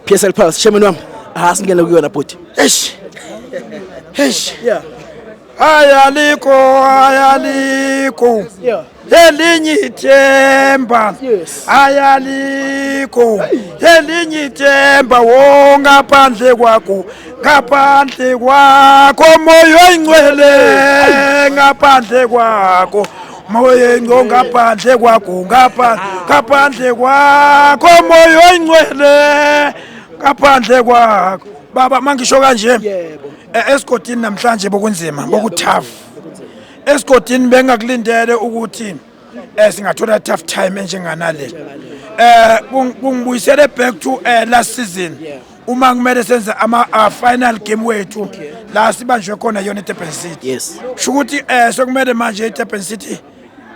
PSL Pulse chairman wami asingene ah, kuyona bhuti eish eish yeah ayaliko ayaliko elinye ithemba ayaliko elinye ithemba wongaphandle kwakho ngaphandle kwakho moyo oyingcwele ngaphandle kwakho moya ingco ngaphandle kwakho ngaphandle kwakho moya oyingcwele ngaphandle kwakho baba mangisho kanje e, esigodini namhlanje bokunzima bokuthafu esigodini bengakulindele ukuthi eh singathola tough time enjenganale eh kungibuyisele back to eh last season uma kumele senze ama uh, final game wethu okay. la sibanjwe khona yona eDurban City yes sho ukuthi eh sekumele manje eDurban City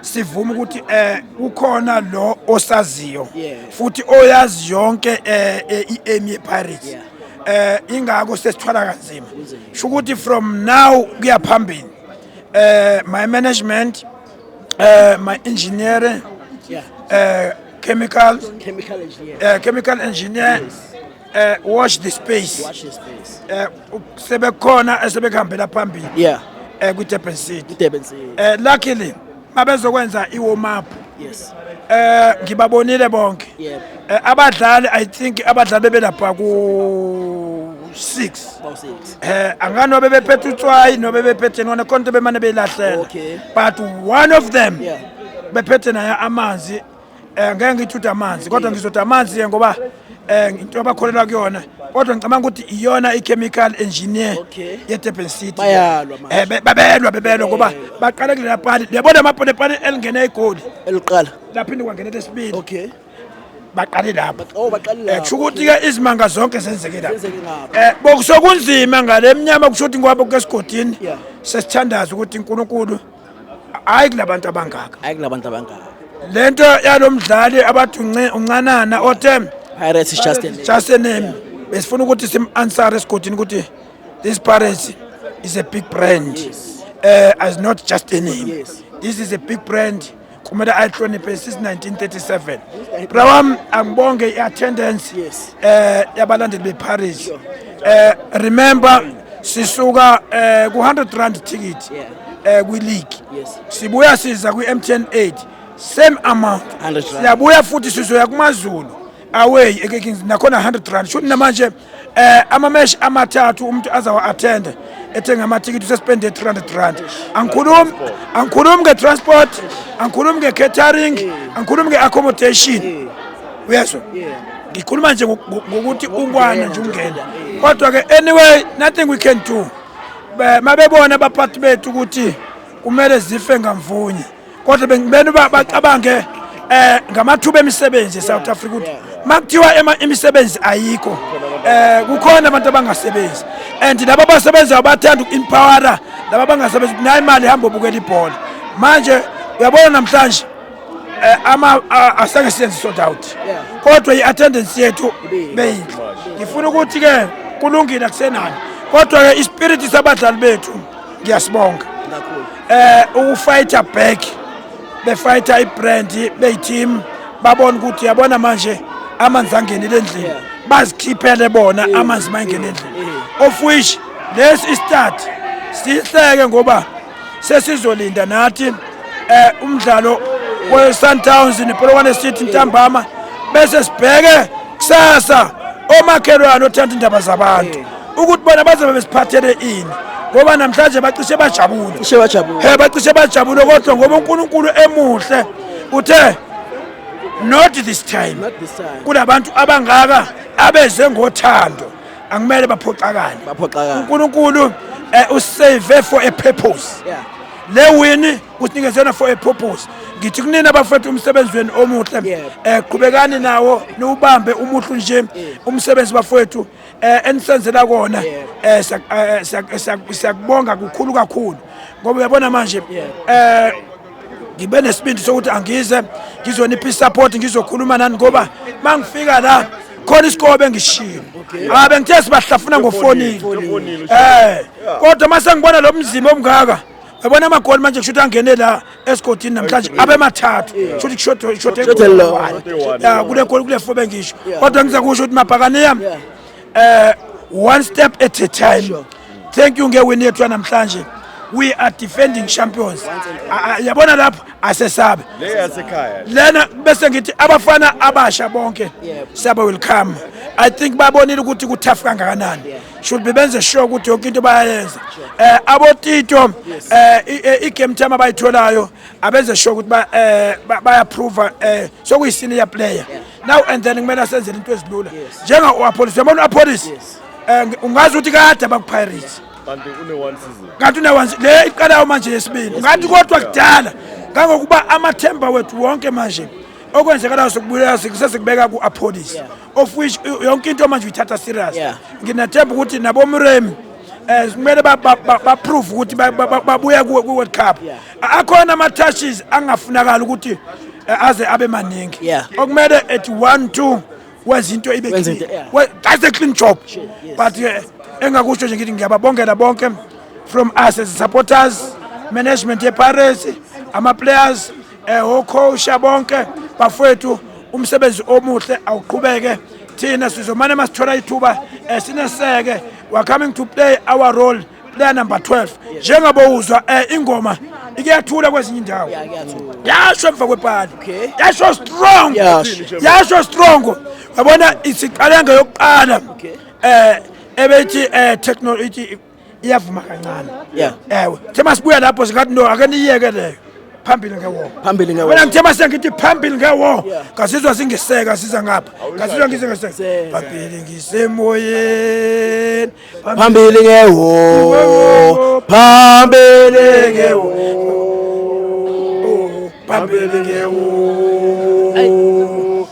sivume ukuthi eh ukhona lo osaziyo futhi oyazi yonke eh, eh i-aim yePirates yeah. eh ingakho sesithwala kanzima sho ukuthi from now kuya phambili eh my management eh my engineer yeah. eh Chemical, chemical engineer, uh, chemical engineer yes. uh, wash the space, wash the space. Uh, sebekhona esebekuhambela phambili yeah. uh, kwi-durban city durban city uh, luckily mabezokwenza i-warm up yes. eh ngibabonile bonke yeah. eh, abadlali i think abadlali bebelapha ku 6 eh angani nobe bephethe utswayi nobe bephethe nona konke bemane beyilahlela okay. but one of them yeah. bephethe naye amanzi um ngeke ngithi uthi amanzi kodwa ngizothi amanzi-ke ngoba um into abakholelwa kuyona kodwa ngicabanga ukuthi iyona i-chemical engineer Okay. ye-durban city Bayalwa manje. Eh, be- babelwa bebelwa ngoba baqale kulela pani liyabona amapone pani elingene igoli eliqala laphinde kwangena lesibili okay baqale lapho oh baqale Eh, lapho. kusho ukuthi-ke izimanga zonke zenzeke lapho Zenzeke ngapho. Eh, bokusokunzima ngale mnyama kusho ukuthi ngoba kukesigodini Yeah. sesithandaza ukuthi unkulunkulu hayi kulabantu abangaka hayi kulabantu abangaka lento yalomdlali abathi uncanana othe Pirates is just a name. just a name besifuna ukuthi sim answer esigodini ukuthi this Pirates is a big brand eh as not just a name this is a big brand kumele ayihloniphe since 1937 bra wam angibonge i-attendance eh yabalandeli beparish eh remember sisuka eh ku-100 rand ticket eh kwi-league sibuya siza kwi-mtn 8 same amount siyabuya futhi sizoya kumazulu away ekekings nakhona 100 rand shuthi namanje eh amamesh amathathu umuntu azawa attend ethenga amathikithi usespende 300 rand angikhulumi angikhulumi ngetransport angikhulumi ngecatering angikhulumi ngeaccommodation uyezwa ngikhuluma nje ngokuthi ungwana nje ungena kodwa ke anyway nothing we can do mabebona abaphathi bethu ukuthi kumele zife ngamvunye kodwa bengibena uba bacabange um ngamathuba emisebenzi e-south africa ukuthi uma kuthiwa imisebenzi ayikho um kukhona abantu abangasebenzi and laba abasebenzayo bathanda uku-empowera laba abangasebenzi ukuthi nayo imali ihamba obukela ibhola manje uyabona namhlanje Eh, ama asake senze sold out kodwa i-attendance yethu beyinhle ngifuna ukuthi-ke kulungile akusenani kodwa-ke ispiriti sabadlali bethu ngiyasibonga eh ukufighter back befighter ibrand beyiteam babona ukuthi yabona manje amanzi angenile endlini bazikhiphele bona amanzi mangene endlini of which lesi start sihleke ngoba sesizolinda nathi eh umdlalo weSundowns nePolokwane City ntambama bese sibheke kusasa omakhelwane othanda indaba zabantu ukuthi bona bazobe besiphathele ini ngoba namhlanje bacishe bajabule cishe bajabule he bacishe bajabule kodwa ngoba uNkulunkulu emuhle uthe not this time kunabantu abangaka abeze ngothando angimele baphoxakale baphoxakale uNkulunkulu eh, usave for a purpose yeah le wini kusinikeze yona for a purpose ngithi kunina bafethu umsebenzi wenu omuhle eh qhubekani nawo niwubambe umuhlu nje umsebenzi bafethu eh enisenzela kona eh, eh, eh siyakubonga kukhulu kakhulu ngoba uyabona manje eh ngibe nesibindi sokuthi angize ngizonipha support ngizokhuluma nani ngoba mangifika la khona isikobe engishilo ah bengithe sibahlafuna ngofonini eh kodwa mase ngibona lo mzimba omngaka yabona amagoli manje kusho ukuthi angene la esigodini namhlanje abemathathu sho ukuthi kushoda kushoda ekhona ya kule goli kule fobe ngisho kodwa ngiza kusho ukuthi mabhakane yami eh one step at a time thank you ngewini yethu yanamhlanje we are defending champions yabona lapho asesabe lena bese ngithi abafana abasha bonke siyaba welcome i think babonile ukuthi kuthafu kangakanani should be benze sure ukuthi yonke into bayayenza eh abotito eh i-game time abayitholayo abenze sure ukuthi ba eh bayaprove eh sokuyisenior player now and then kumele asenzele into ezilula njenga uApollis yabona uApollis eh ungazi ukuthi kade abakupirates kanti une one season kanti une one le iqalayo manje yesibili ngathi kodwa kudala kangokuba amathemba wethu wonke manje okwenzekalayo sokubuyela sikusese kubeka ku-apholisi of which yonke into manje uyithatha serious yeah. nginathemba ukuthi nabomuremi eh kumele ba prove ukuthi babuya ku World Cup akhona ama touches angafunakala ukuthi eh, aze abe maningi okumele at 1 2 wezinto ibe that's a clean job but eh, engakusho nje ngithi ngiyababongela bonke from us as supporters management ye Pirates ama players eh okhosha bonke bafethu umsebenzi omuhle awuqhubeke thina sizomane masithola ithuba eh, sineseke we are coming to play our role player number 12 njengoba uzwa eh, ingoma iyathula kwezinye indawo yasho emva kwepali yasho strong yasho strong yabona isiqale ngeyokuqala eh ebethi eh technology iyavuma kancane yeah ewe the masibuya lapho singathi no ake niyeke leyo phambili ngewona phambili ngewona mina ngithema sengithi phambili ngewona ngazizwa singiseka siza ngapha ngazizwa ngisengeseka phambili ngisemoyeni phambili ngewona phambili ngewona phambili ngewona